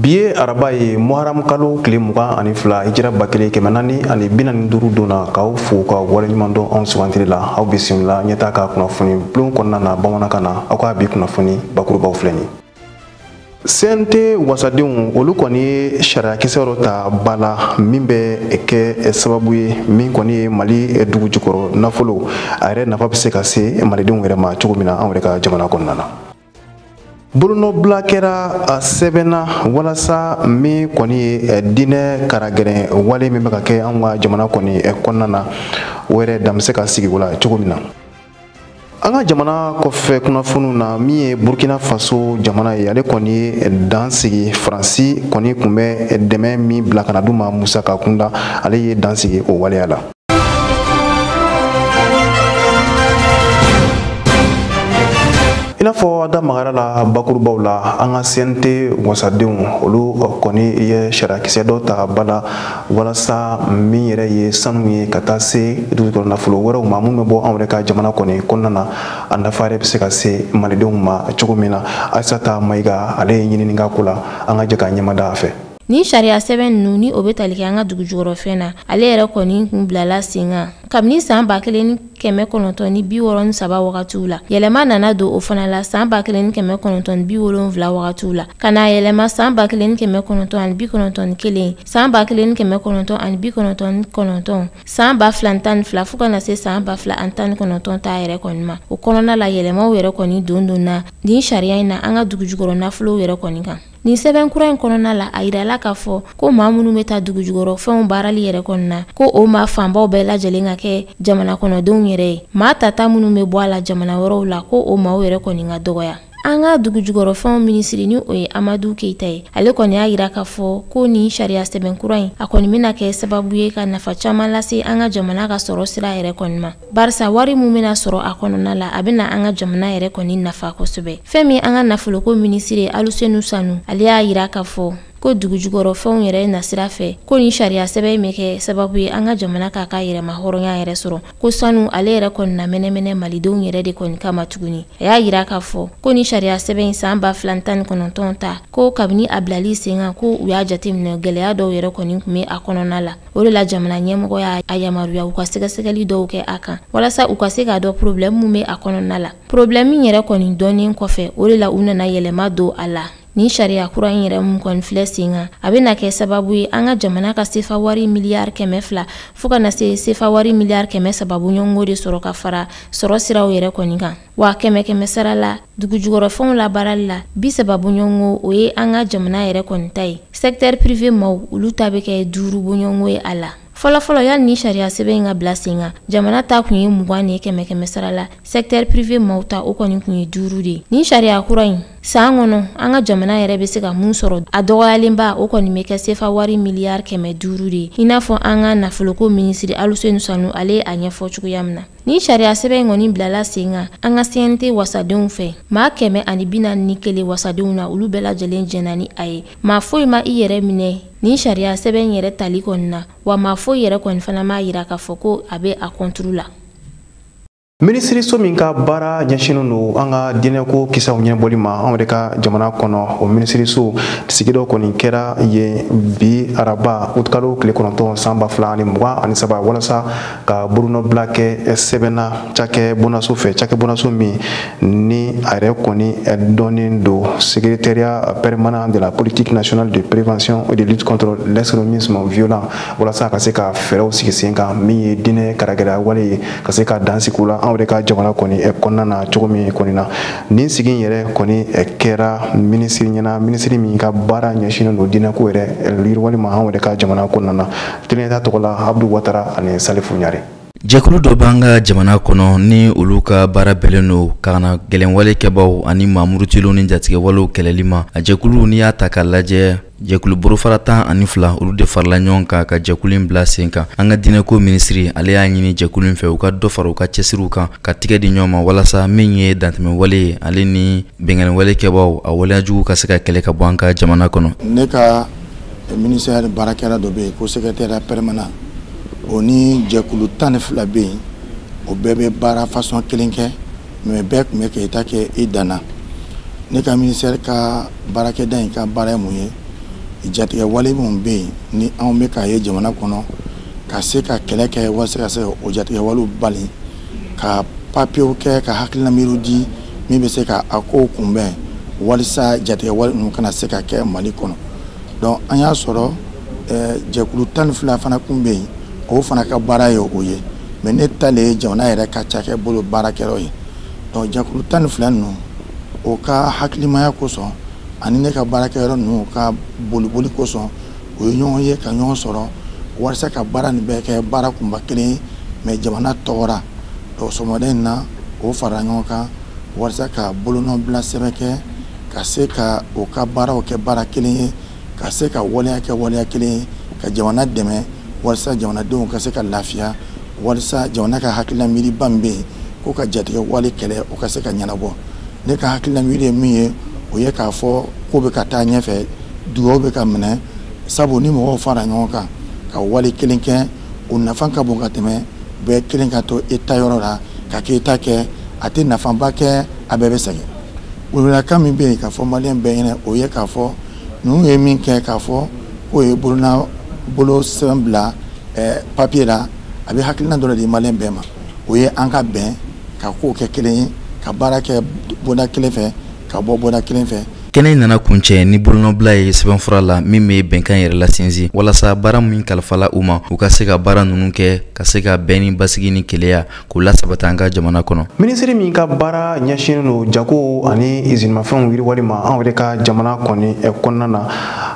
bi ye araba ye muharam kalo tile mugan ani fila hijira ba kelen kɛmɛ naani ani bi naani duuru don na k'aw fo ka waleɲuman dɔn anw sugantili la aw bisimila ɲɛtaa ka kunnafoni bulon kɔnɔna na bamanankan na aw ka bi kunnafoni bakurubaw filɛ nin sente wasadenw olu kɔni ye sariyakisɛ dɔ ta ba la min bɛ kɛ sababu ye min kɔni ye mali dugu jukɔrɔ nafolo a yɛrɛ nafa bɛ se ka se malidenw yɛrɛ ma cogo min na anw yɛrɛ ka jamana kɔnɔna na bolonɔbila kɛra a sɛbɛn na walasa min kɔni ye diinɛ karagɛrɛn wale min bɛ ka kɛ anw ka jamana kɔni kɔnɔna na o yɛrɛ dan bɛ se ka sigi o la cogo min na an ka jamana kɔfɛ kunnafoniw na min ye burkina faso jamana ye ale kɔni ye dan sigi faransi kɔni kun bɛ dɛmɛ min bila ka na d'u ma musaka kunda ale ye dan sigi o waleya la i n'a fɔ da magara a la bakurubaw la an ka sente wasadenw olu kɔni ye sariyakisɛ dɔ ta ba la walasa min yɛrɛ ye sanu ye ka taa se dugu jukɔrɔ nafolo wɛrɛw ma minnu bɛ bɔ anw yɛrɛ ka jamana kɔni kɔnɔna na a nafa yɛrɛ bɛ se ka se malidenw ma cogo min na ayisata mayiga ale ye ɲinini k'a ko la an ka jɛ ka ɲɛmada a fɛ Nin sariya sɛbɛn ninnu ni o bɛ tali kɛ an ka dugu jukɔrɔfɛn na ale yɛrɛ kɔni kun bilala sen kan kabini san ba kelen ni kɛmɛ kɔnɔntɔn ni bi wɔɔrɔ ni saba wagatiw la yɛlɛma nana don o fana la san ba kelen ni kɛmɛ kɔnɔntɔn ni bi wolonwula wagatiw la ka n'a yɛlɛma san ba kelen ni kɛmɛ kɔnɔntɔn ani bi kɔnɔntɔn ni kelen san ba kelen ni kɛmɛ kɔnɔntɔn ani bi kɔnɔntɔn ni kɔnɔntɔn san ba fila ni tan ni fila fo ka na se san ba fila ani tan ni kɔnɔntɔn ta yɛrɛ kɔni ma o kɔnɔna la yɛlɛmaw yɛrɛ kɔni dondonna nin sariya in na an ka dugu jukɔrɔ nafolow yɛrɛ kɔni kan nin sɛbɛn kura in kɔnɔna la a yirala k'a fɔ ko maa minnu bɛ ta dugujukɔrɔ fɛnw baarali yɛrɛ kɔnɔna ko o maa fanbaw bɛɛ lajɛlen ka kɛ jamana kɔnɔdenw yɛrɛ ye maa tata minnu bɛ bɔ a la jamana wɛrɛw la ko o maaw yɛrɛ kɔni ka dɔgɔya an ka dugujukɔrɔfɛnw minisiri ni o ye amadu keita ye ale kɔni y'a yira k'a fɔ ko nin sariya sɛbɛn kura in a kɔni bɛna kɛ sababu ye ka nafa caaman lase an ka jamana ka sɔrɔ sira yɛrɛ kɔni ma barisa wari min bɛna sɔrɔ a kɔnɔna la a bɛna an ka jamana yɛrɛ kɔni nafa kosɛbɛ fɛn min an ka nafoloko minisiri alusenu sanu ale y'a yira k'a fɔ ko dugujukɔrɔfɛnw yɛrɛ nasira fɛ ko nin sariya sɛbɛn in bɛna kɛ sababu ye an ka jamana k'a ka yɛrɛmahɔrɔnya yɛrɛ sɔrɔ ko sanu ale yɛrɛ kɔni na mɛnɛmɛnɛ malidenw yɛrɛ de kɔni kama tuguni a y'a yira k'a fɔ ko nin sariya sɛbɛn in san ba fila ni tan ni kɔnɔntɔn ta ko kabini a bilali sen kan ko u y'a jateminɛ gɛlɛya dɔw yɛrɛ kɔni kun bɛ a kɔnɔna la o de la jamana ɲɛmɔgɔ y'a yamaruya u ka sɛgɛsɛgɛli dɔw kɛ a kan walasa u ka se k'a dɔn porobilɛmu min bɛ a kɔnɔna la porobilɛmu in yɛrɛ kɔni dɔnnen kɔfɛ o de la u nana yɛlɛma don a la nin sariya kura in yɛrɛ min kɔni filɛ sen kan a bɛna kɛ sababu ye an ka jamana ka sefa wari miliyari kɛmɛ fila fo ka na se sefa wari miliyari kɛmɛ saba bɔɲɔgɔnko de sɔrɔ ka fara sɔrɔ siraw yɛrɛ kɔni kan wa kɛmɛ kɛmɛ sara la dugujukɔrɔfɛnw labaarali la bi saba boɲɔgɔnko o ye an ka jamana yɛrɛ kɔni ta ye secteur privé maw olu ta bɛ kɛ duuru boɲɔgɔnko ye a la fɔlɔfɔlɔ yani ni sariya sɛbɛn in ka bila sen kan jamana ta kun ye mugan de ye kɛmɛ kɛmɛ sara la secteur privé maw ta o kɔni kun ye duuru de ye nin sariya kura in san kɔnɔ an ka jamana yɛrɛ bɛ se ka mun sɔrɔ a dɔgɔyalenba o kɔni bɛ kɛ sefa wari miliyari kɛmɛ duuru de ye i n'a fɔ an ka nafoloko minisiri aluseni sanu ale ye a ɲɛfɔ cogoya min na Ni sariya sɛbɛn in kɔni bilala sen kan an ka CNT wasadenw fɛ maa kɛmɛ ani bi naani ni kelen wasadenw na olu bɛɛ lajɛlen jɛnna ni a ye maa foyi ma i yɛrɛ minɛ nin sariya sɛbɛn in yɛrɛ tali kɔni na wa maa foyi yɛrɛ kɔni fana m'a yira k'a fɔ ko a bɛ a kɔnturu la. minisiriso min ka baara ɲɛsinnen don an ka diinɛko kisaw ɲɛbɔli ma anw yɛrɛ ka jamana kɔnɔ o minisiriso sigi dɔ kɔni kɛra yen bi araba utikalo tile kɔnɔntɔn san ba fila ani mugan ani saba walasa ka bolonɔbila kɛ sɛbɛn na cakɛ bonaso fɛ cakɛ bonaso min ni a yɛrɛ kɔni dɔnnen don secrétariat permanent de la politique nationale de prévention et de lutte contre l'extrémisme violent walasa a ka se ka fɛɛrɛw sigi sen kan min ye diinɛ karagɛlɛya wale ye ka se ka dan sigi u la an yɛrɛ ka jamana kɔni kɔnɔna na cogo min kɔni na nin sigi in yɛrɛ kɔni kɛra minisiri ɲɛna minisiri min ka baara ɲɛsinnen don diinɛko yɛrɛ yiriwali ma an yɛrɛ ka jamana kɔnɔna na Teneta tɔgɔ la Abudu Watara ani Salifu Ɲare. Jɛkulu dɔ b'an ka jamana kɔnɔ ni olu ka baara bɛnnen don kannagɛlɛnwale kɛbaaw ani maa murutilenw ni jatigɛwalew kɛlɛli ma. A jɛkulu n'i y'a ta k'a lajɛ jɛkulu bolofara tan ani fila olu de farala ɲɔgɔn kan ka jɛkulu in bila sen kan an ka diinɛko minisiri ale y'a ɲini jɛkulu in fɛ u ka dɔ fara u ka cɛsiriw kan ka tigɛ di ɲɔgɔn ma walasa min ye dantɛmɛwale ye ale ni binkanniwale kɛbaaw a waleyajugu ka se ka kɛlɛ ka bɔ an ka jamana kɔnɔ ne ka ministère baarakɛda dɔ bɛ yen ko secrétariat permanent o ni jɛkulu tan ni fila bɛ yen o bɛɛ bɛ baara fasɔn kelen kɛ mais bɛɛ tun bɛ k'i ta kɛ i danna ne ka ministère ka baarakɛda in ka baara ye mun ye jatigɛ wale minnu bɛ yen ni anw bɛ k'a ye jamana kɔnɔ ka se ka kɛlɛ kɛ walasa ka se o jatigɛ walew bali ka papiyew kɛ ka hakilina miiriw di min bɛ se ka a kow kunbɛn walisa jatigɛ wale ninnu kana se ka kɛ mali kɔnɔ donc an y'a sɔrɔ eh, jɛkulu tan ni fila fana kun bɛ yen o fana ka baara ye o ye mais ne ta le ye jamana yɛrɛ ka cakɛ bolo baarakɛyɔrɔ ye donc jɛkulu tan ni fila ninnu o ka hakilimaya kosɔn ani ne ka baarakɛyɔrɔ ninnu ka boliboli kosɔn o ye ɲɔgɔn ye ka ɲɔgɔn sɔrɔ walasa ka baara nin bɛɛ kɛ baara kunba kelen ye mɛ jamana tɔgɔ ra sɔgɔmada in na o fara ɲɔgɔn kan walasa ka bolonɔ bila sɛbɛn kɛ ka se ka o ka baaraw kɛ baara kelen ye ka se ka waleya kɛ waleya kelen ye ka jamana dɛmɛ walasa jamanadenw ka se ka lafiya walasa jamana ka hakilina miiriba min bɛ yen ko ka jatigɛwale kɛlɛ o ka se ka ɲɛnabɔ ne ka hakilina miiri ye min ye o ye k'a fɔ ko bɛ ka taa ɲɛfɛ dugaw bɛ ka minɛ sabu ni mɔgɔw fara ɲɔgɔn kan ka wale kelen kɛ o nafa ka bon ka tɛmɛ bɛɛ kelen ka to e ta yɔrɔ la ka kɛ e ta kɛ a tɛ nafaba kɛ a bɛɛ bɛ sɛgɛn weleweledakan min bɛ yen k'a fɔ maliyɛn bɛɛ ɲɛna o ye k'a fɔ ninnu ye min kɛ k'a fɔ k'o ye bolonɔ bolo sɛbɛn bila ɛɛ papiye la a bɛ hakilina dɔ de di maliyɛn bɛɛ ma o ye an ka bɛn ka kow kɛ kelen ye ka baara kɛ bonda kelen fɛ ka bɔ bɔda kelen fɛ kɛnɛ in nana kuncɛ ni bolonɔbila ye sɛbɛnfura la min bɛ bɛnkan yɛrɛ lasinsin walasa baara min kalifala u ma u ka se ka baara ninnu kɛ ka se ka bɛn ni basigi ni keleya k'u lasabati an ka jamana kɔnɔ minisiri min ka baara ɲɛsinnen don jago ani izinimafɛnw yiriwali ma anw yɛrɛ ka jamana kɔni eh, kɔnɔna na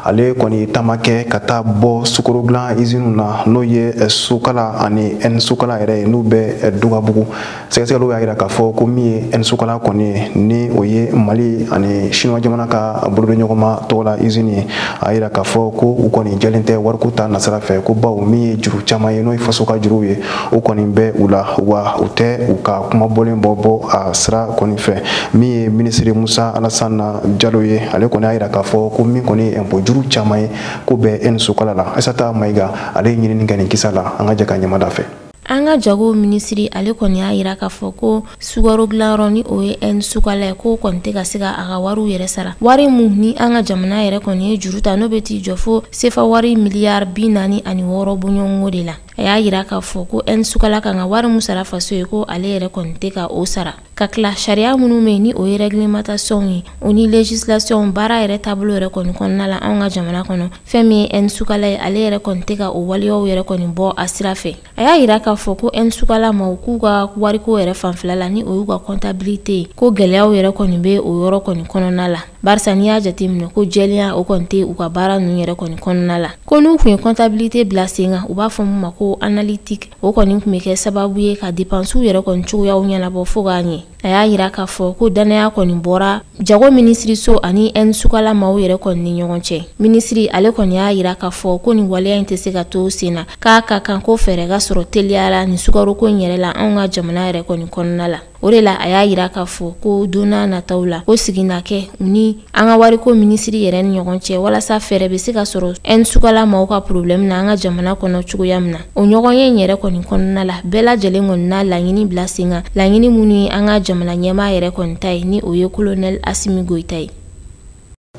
ale kɔni taama kɛ ka taa bɔ sukaro dilan iziniw na n'o ye eh, sukala ani ɛn sukala yɛrɛ ye n'u bɛ eh, dugabugu sɛgɛsɛgɛliw y'a jira k'a fɔ ko min ye ɛn sukala kɔni ye ni o ye mali ani sinuwa jamana ka bolodiɲɔgɔnma tɔgɔ la izini ye a jira k'a fɔ ko u kɔni jɛlen tɛ wariko ta nasira fɛ ko bawo min ye juru caman ye n'o ye faso ka juruw ye o kɔni bɛ u la wa u tɛ u ka kuma bɔlen bɔ bɔ a sira kɔni fɛ min ye minisiri musa alasana jalo ye ale kɔni y'a jira k'a fɔ ko min kɔni ye ɛnpo juru caman ye k'o bɛ ɛn sukala la aisata mayiga ale ye ɲinini kɛ nin kisa la an ka jɛ ka ɲɛmada fɛ An ka jago minisiri ale kɔni y'a jira k'a fɔ ko sukaro dilanyɔrɔ ni o ye ɛn sukala ye k'o kɔni tɛ ka se ka a ka wariw yɛrɛ sara wari min ni an ka jamana yɛrɛ kɔni ye juru ta n'o bɛ t'i jɔ fo sefa wari miliyari bi naani ani wɔɔrɔ bɔɲɔgɔnko de la a y'a jira k'a fɔ ko ɛn sukala kan ka wari min sara faso ye ko ale yɛrɛ kɔni tɛ ka o sara ka tila sariya minnu bɛ yen ni o ye réglementation ye o ni législation baara yɛrɛ taabolo yɛrɛ kɔni kɔnɔna la anw ka jamana kɔnɔ fɛn min ye ɛn sukala ye ale yɛrɛ kɔni tɛ ka o waleyaw yɛrɛ kɔni bɔ a sira fɛ a y'a yira k'a fɔ ko ɛn sukala maaw k'u ka wariko yɛrɛ fanfɛla la ni o y'u ka comptabilité ye ko gɛlɛyaw yɛrɛ kɔni bɛ o yɔrɔ kɔni kɔnɔna la barisa n'i y'a jateminɛ ko jɛlenya o kɔni tɛ u ka baara ninnu yɛrɛ kɔni kɔnɔna la ko n'u kun ye comptabilité bila sen kan u b'a fɔ min ma ko analytique o kɔni tun bɛ kɛ sababu ye ka depansiw yɛrɛ kɔni cogoyaw ɲɛnabɔ fo k'a ɲɛ a y'a jira k'a fɔ ko dannaya kɔni bɔra jago minisiriso ani ɛn sukala maaw yɛrɛ kɔni ni ɲɔgɔn cɛ minisiri ale kɔni y'a jira k'a fɔ ko nin waleya in tɛ se ka to senna k'a ka kan ko fɛɛrɛ ka sɔrɔ teliya ra nin sukaroko in yɛrɛ la an ka jamana yɛrɛ kɔni kɔnɔna la o de la a y'a jira k'a fɔ ko donna nataw la ko sigi na kɛ u ni an ka wariko minisiri yɛrɛ ni ɲɔgɔn cɛ walasa fɛɛrɛ bɛ se ka sɔrɔ ɛn sukala maaw ka problɛmu na an ka jamana kɔnɔ cogoya min na o ɲɔgɔnye in yɛrɛ kɔni kɔnɔna la bɛɛ lajɛlen kɔni na laɲini bila sen kan laɲini minnu ye an ka jamana ɲɛmaa yɛrɛ kɔni ta ye ni o ye kolonɛli asimi goyita ye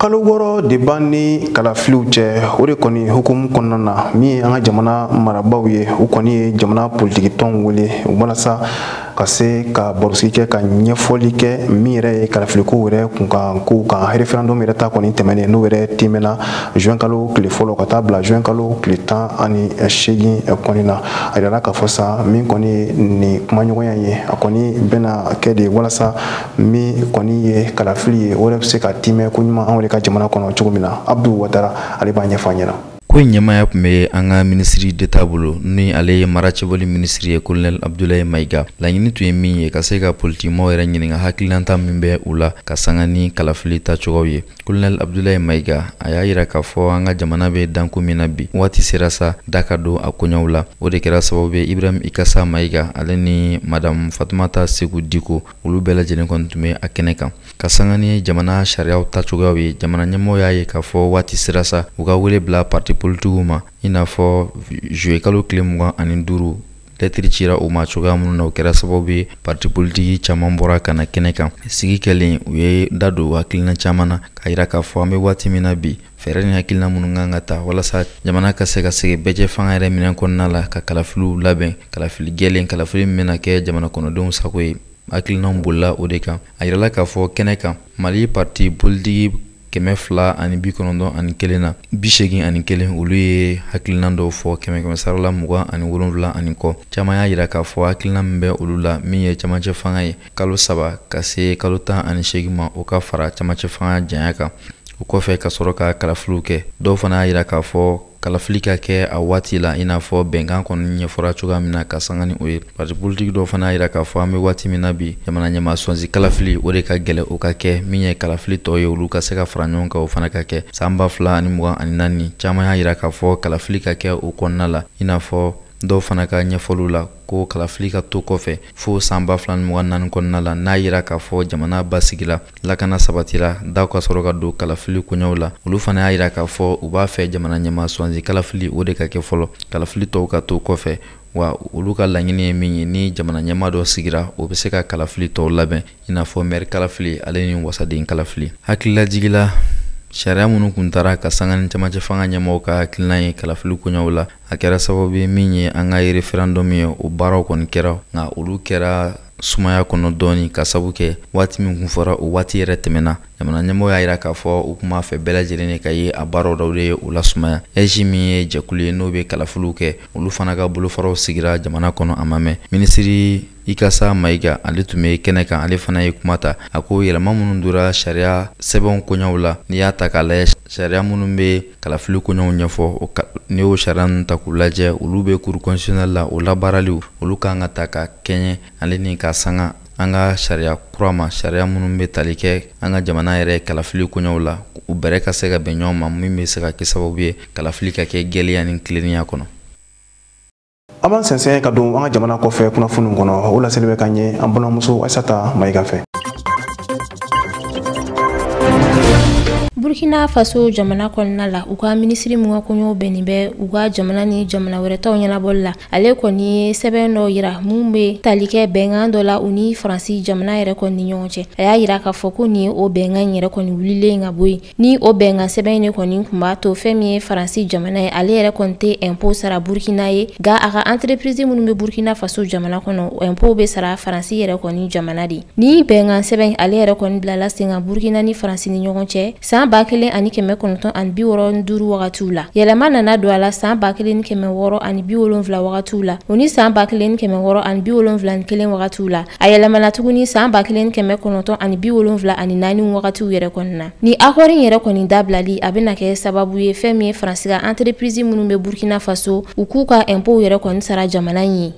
kalo wɔɔrɔ de b'an ni kalafiliw cɛ o de kɔni hukumu kɔnɔna na min ye an ka jamana marabaaw ye u kɔni ye jamana politikitɔnw wele walasa ka se ka barosigi kɛ ka ɲɛfɔli kɛ min yɛrɛ ye kalafiliko yɛrɛ kunkan kow kan referendum yɛrɛ ta kɔni tɛmɛnen n'o yɛrɛ tɛmɛna juin kalo tile fɔlɔ ka taa bila juin kalo tile tan ani seegin kɔni na a yirala k'a fɔ sa min kɔni ye nin kumaɲɔgɔnya ye a kɔni bɛna kɛ de walasa min kɔni ye kalafili ye o yɛrɛ bɛ se ka tiimɛ koɲuman anw de ka jamana kɔnɔ cogo min na abdu watara ale b'a ɲɛfɔ an ɲɛ na ko in ɲɛmaaya tun bɛ an ka minisiri deta bolo ni ale ye mara cɛbɔli minisiri ye kolonɛl abdulayi mayiga laɲini tun ye min ye ka se ka politikimɔgɔw yɛrɛ ɲininka hakililanta min bɛ u la ka sanga ni kalafili tacogow ye kolonɛl abdulayi mayiga a y'a yira k'a fɔ an ka jamana bɛ dankun min na bi waati sera sa da ka don a koɲɛw la o de kɛra sababu ye ibrahim ikasa mayiga ale ni madamu fatumata seku diko olu bɛɛ lajɛlen kɔni tun bɛ a kɛnɛ kan ka sanga ni jamana sariyaw tacogoyaw ye jamana ɲɛmɔgɔw y'a ye k'a fɔ waati sera sa u ka wele bila parti politikiw ma i n'a fɔ juillet kalo tile mugan ani duuru lɛtiri cira u ma cogoya minnu na o kɛra sababu ye parti politiki caman bɔra ka na kɛnɛ kan sigi kɛlen u ye da don hakilina caman na k'a yira k'a fɔ an bɛ waati min na bi fɛɛrɛ ni hakilina minnu kan ka ta walasa jamana ka se ka segin bɛɛjɛ fanga yɛrɛ minɛn kɔnɔna la ka kalafiliw labɛn kalafili jɛlen kalafili min bɛna kɛ jamana kɔnɔdenw sago ye hakilinaw bolila o de kan a yirala k'a fɔ kɛnɛ kan mali parti politiki kɛmɛ fila ani bi kɔnɔntɔn ani kelen na bi seegin ani kelen olu ye hakilinan dɔw fɔ kɛmɛ kɛmɛ sarala mugan ani wolonwula ani kɔ caman y'a yira k'a fɔ hakilinan min bɛ olu la min ye camancɛ fanga ye kalo saba ka se kalo tan ani seegin ma o ka fara camancɛ fanga janya kan o kɔfɛ ka sɔrɔ ka kalafiliw kɛ dɔw fana y'a yira k'a fɔ kalafili ka kɛ a waati la i n'a fɔ bɛnkan kɔni ɲɛfɔra cogoya min na ka sanga ni o ye parti politiki dɔw fana y'a yira k'a fɔ an bɛ waati min na bi jamana ɲɛmaa swazi kalafili o de ka gɛlɛ o ka kɛ min ye kalafili tɔ ye olu ka se ka fara ɲɔgɔn kan o fana ka kɛ san ba fila ani mugan ani naani caman y'a yira k'a fɔ kalafili ka kɛ o kɔnɔna la i n'a fɔ dɔw fana ka ɲɛfɔliw la ko kalafili ka to kɔfɛ fo san ba fila ni mugan naani kɔnɔna la n'a yira k'a fɔ jamana basigila lakana sabatira daw ka sɔrɔ ka don kalafili koɲɛw la olu fana y'a yira k'a fɔ u b'a fɛ jamana ɲɛmaa swazi kalafili o de ka kɛ fɔlɔ kalafili tɔw ka to kɔfɛ wa olu ka laɲini ye min ye ni jamana ɲɛmaa dɔ sigira o bɛ se ka kalafili tɔw labɛn i n'a fɔ mɛri kalafili ale ni wasaden kalafili hakililajigila sariya minnu tun taara ka sanga ni camancɛ fanga ɲɛmɔgɔw ka hakilinan ye kalafili koɲɛw la a kɛra sababu ye min ye an ka referendum ye o baaraw kɔni kɛra nka olu kɛra sumaya kɔnɔ dɔɔni k'a sabu kɛ waati min kun fɔra o waati yɛrɛ tɛmɛna jamana ɲɛmɔgɔ y'a yira k'a fɔ u kun b'a fɛ bɛɛ lajɛlen de ka ye a baaraw dɔw de ye o lasumaya aige min ye jɛkulu ye n'o bɛ kalafiliw kɛ olu fana ka bolofaraw sigira jamana kɔnɔ a ma mɛn minisiri ikasa mayiga ale tun bɛ kɛnɛ kan ale fana ye kuma ta a ko yɛlɛma minnu dora sariya sɛbɛnw koɲɛw la n'i y'a ta k'a lajɛ sariya minnu bɛ kalafili koɲɛw ɲɛfɔ n'i y'o sariya ninnu ta k'u lajɛ olu bɛ cour constitutionnelle la o labaaraliw olu kan ka ta ka kɛɲɛ ale ni ka sanga an ka sariya kura ma sariya minnu bɛ tali kɛ an ka jamana yɛrɛ kalafili koɲɛw la u bɛrɛ ka se ka bɛn ɲɔgɔn ma min bɛ se ka kɛ sababu ye kalafili ka kɛ jɛlenya ni tilennenya kɔnɔ an b'an sɛnsɛn ka don an ka jamana kɔfɛ kunnafoniw kɔnɔ o laseli bɛ k'aw ye an balimamuso aisata mayiga fɛ burkina faso jamana kɔnɔna la u ka minisiri min ka koɲɛw bɛnnen bɛ u ka jamana ni jamana wɛrɛ taw ɲɛnabɔli la ale kɔni ye sɛbɛn dɔ yira min bɛ tali kɛ bɛnkan dɔ la u ni faransi jamana yɛrɛ kɔni ni ɲɔgɔn cɛ a y'a yira k'a fɔ ko nin ye o bɛnkan in yɛrɛ kɔni wulilen ka bɔ yen Ni o bɛnkan sɛbɛn in de kɔni tun b'a to fɛn min ye Faransi jamana ye, ale yɛrɛ kɔni tɛ impôt sara Burkina ye, nka a ka entreprise minnu bɛ Burkina Faso jamana kɔnɔ, o impôt bɛ sara Faransi yɛrɛ kɔni jamana de. Nin bɛnkan sɛbɛn in, ale yɛrɛ kɔni bilala sen kan Burkina ni Faransi ni ɲɔgɔn cɛ san 1965 wagatiw la. Yɛlɛma nana don a la san 1670 wagatiw la, o ni san 1671 wagatiw la. a yɛlɛmana tuguni saan ba kelen kɛmɛ kɔnɔntɔn ani bi wolonfila ani naani wagatiw yɛrɛ kɔni na nin akɔri yɛrɛ kɔni dabilali a bɛna kɛ sababu ye fɛn min ye faransi ka anterepirizi minnu bɛ burkina faso u k'u ka ɛnpow yɛrɛ kɔni sara jamana ye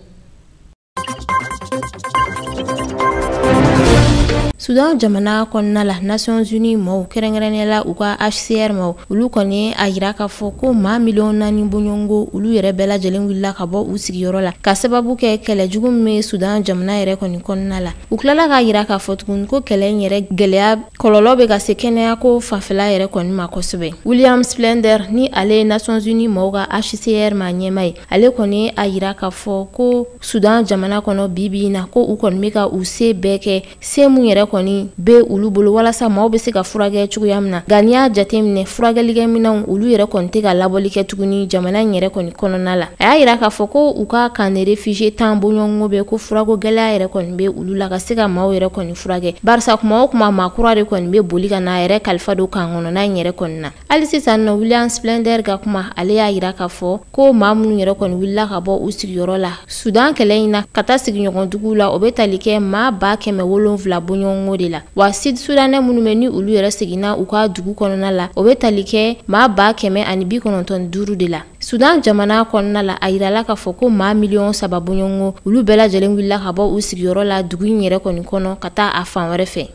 sudan jamana kɔnɔna la nations unies mɔgɔw kɛrɛnkɛrɛnnenya la u ka hcr mɔgɔw olu kɔni a yira k'a fɔ ko maa miliyɔn naani bɔɲɔgɔnko olu yɛrɛ bɛɛ lajɛlen wulila ka bɔ u sigiyɔrɔ la k'a sababu kɛ kɛlɛ jugu min bɛ sudan jamana yɛrɛ kɔni kɔnɔna la u tilala k'a yira k'a fɔ tuguni ko kɛlɛ in yɛrɛ gɛlɛya kɔlɔlɔ bɛ ka se kɛnɛyako fanfɛla yɛrɛ kɔni ma kosɛbɛ william spindler ni ale ye nations unies mɔgɔw ka hcr maa ɲɛmaa ye ale kɔni a yira k'a fɔ ko sudan jamana kɔnɔ bi bi in na ko u kɔni bɛ ka u se bɛɛ kɛ se min yɛrɛ kɔni be olu bolo walasa maaw be se ka furakɛ cogoya min na nka n'i y'a jate minɛ furakɛlikɛminɛnw olu yɛrɛ kɔni tɛ ka laboli kɛ tuguni jamana in yɛrɛ kɔni kɔnɔna la a y'a yira k'a fɔ ko u ka camp de réfugiés tan bɔɲɔgɔnko bɛ ko furako gɛlɛya yɛrɛ kɔni be olu la ka se ka maaw yɛrɛ kɔni furakɛ barisa kuma o kuma maa kura de kɔni be boli ka na a yɛrɛ kalifa don camp kɔnɔna in yɛrɛ kɔni na hali sisan nɔ william splender ka kuma ale y'a yira k'a fɔ ko maa minnu yɛrɛ kɔni wulila ka bɔ u sigiyɔrɔ la sudan kɛlɛ in na ka taa sigiɲɔgɔnduguw la o bɛ tali kɛ maa ba kɛmɛ wolonfila bɔɲɔgɔnko de la wa sud sudanɛ minnu bɛ ni olu yɛrɛ seginna u ka dugu kɔnɔna la o bɛ tali kɛ maa ba kɛmɛ ani bi kɔnɔntɔn ni duuru de la sudan jamana kɔnɔna la a yirala k'a fɔ ko maa miliyɔn saba bɔɲɔgɔnko olu bɛɛ lajɛlen wulila ka bɔ u sigiyɔrɔ la dugu in yɛrɛ kɔni kɔnɔ ka taa a fan wɛrɛ fɛ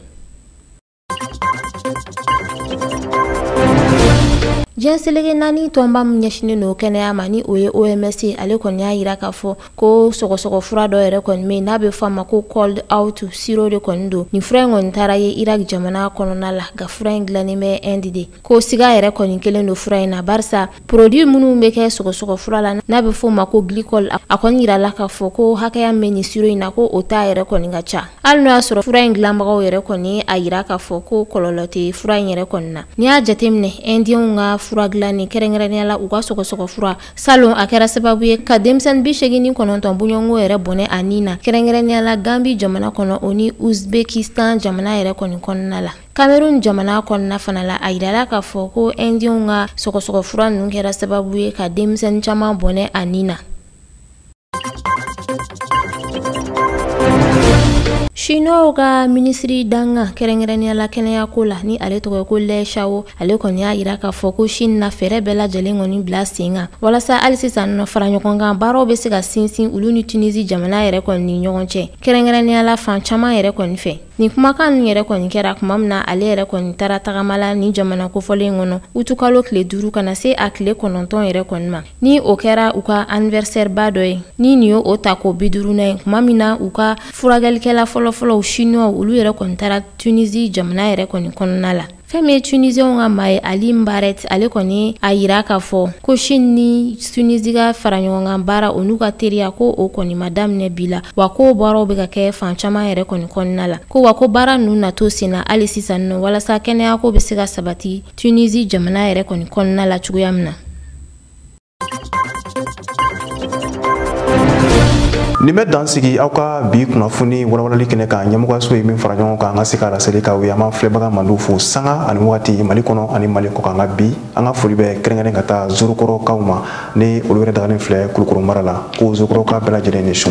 diɲɛ selege naani tɔnba min ɲɛsinnen don kɛnɛya ma ni o ye oms ye ale kɔni y'a yira k'a fɔ ko sɔgɔsɔgɔ fura dɔ yɛrɛ kɔni bɛ yen n'a bɛ fɔ a ma ko cold out siro de kɔni don nin fura in kɔni taara ye iraki jamana kɔnɔna la nka fura in dilannen bɛ ɛndi de ko siga yɛrɛ kɔni kɛlen don fura in na barisa produit minnu bɛ kɛ sɔgɔsɔgɔ fura la n'a bɛ f'o ma ko glycol a kɔni yirala k'a fɔ ko hakɛya min bɛ nin siro in na ko o ta yɛrɛ kɔni ka ca hali n'o y'a sɔrɔ fura in dilanbagaw yɛrɛ kɔni a yira k'a fɔ ko kɔlɔlɔ tɛ fura in yɛrɛ kɔni na n'i y'a jateminɛ indienw ka fura dilanni kɛrɛnkɛrɛnnenya la u ka sɔgɔsɔgɔ fura salon a kɛra sababu ye ka denmisɛnnin bi segin ni kɔnɔntɔn bɔɲɔgɔnko yɛrɛ bɔnɛ a ni na kɛrɛnkɛrɛnnenya la gambi jamana kɔnɔ o ni uzbekistan jamana yɛrɛ kɔni kɔnɔna la Cameroun jamana kɔnɔna fana la a yirala k'a fɔ ko indienw ka sɔgɔsɔgɔ fura ninnu kɛra sababu ye ka denmisɛnnin caman bɔnɛ a ni na Chinoisw ka minisiri dankan kɛrɛnkɛrɛnnenya la kɛnɛyako la ni ale tɔgɔ ko Lɛ Shao ale kɔni y'a yira k'a fɔ ko Chine na fɛɛrɛ bɛɛ lajɛlen kɔni bila sen kan walasa hali sisan nɔ fara ɲɔgɔn kan baaraw bɛ se ka sinsin olu ni Tunisie jamana yɛrɛ kɔni ni ɲɔgɔn cɛ kɛrɛnkɛrɛnnenya la fan caman yɛrɛ kɔni fɛ Nin kumakan ninnu yɛrɛ kɔni kɛra kuma min na ale yɛrɛ kɔni taara tagama la nin jamana kofɔlen kɔnɔ utukalo tile duuru ka na se a tile kɔnɔntɔn yɛrɛ kɔni ma ni o kɛra u ka anivɛrisɛriba dɔ ye ni nin y'o ta ko bi duurunan ye kuma min na u ka furakɛlikɛla fɔlɔfɔlɔ Chinoisw olu yɛrɛ kɔni taara Tunisie jamana yɛrɛ kɔni kɔnɔna la fɛn min ye tunisiɛnw ka maa ye ali mbaret ale kɔni a yira k'a fɔ ko shin ni tunisi ka faraɲɔgɔnkan baara o n'u ka teriya ko o kɔni ma daminɛ bi la wa ko baaraw bɛ ka kɛ fan caman yɛrɛ kɔni kɔnɔna la ko wa ko baara ninnu na to sen na hali sisan nɔ walasa kɛnɛyako bɛ se ka sabati tunisi jamana yɛrɛ kɔni kɔnɔna la cogoya min na nin bɛ dan sigi aw ka bi kunnafoni walawalali kɛnɛ kan ɲɛmɔgɔyaso ye min fara ɲɔgɔn kan an ka se ka laseli k'aw ye an b'an filɛbaga mandiw fo sanga ani wagati mali kɔnɔ ani mali kɔ kan nka bi an ka foli bɛ kɛrɛnkɛrɛn ka taa zorokɔrɔkaw ma ni olu yɛrɛ dagalen filɛ kulukɔrɔ mara la ko zorokɔrɔka bɛɛ lajɛlen ni su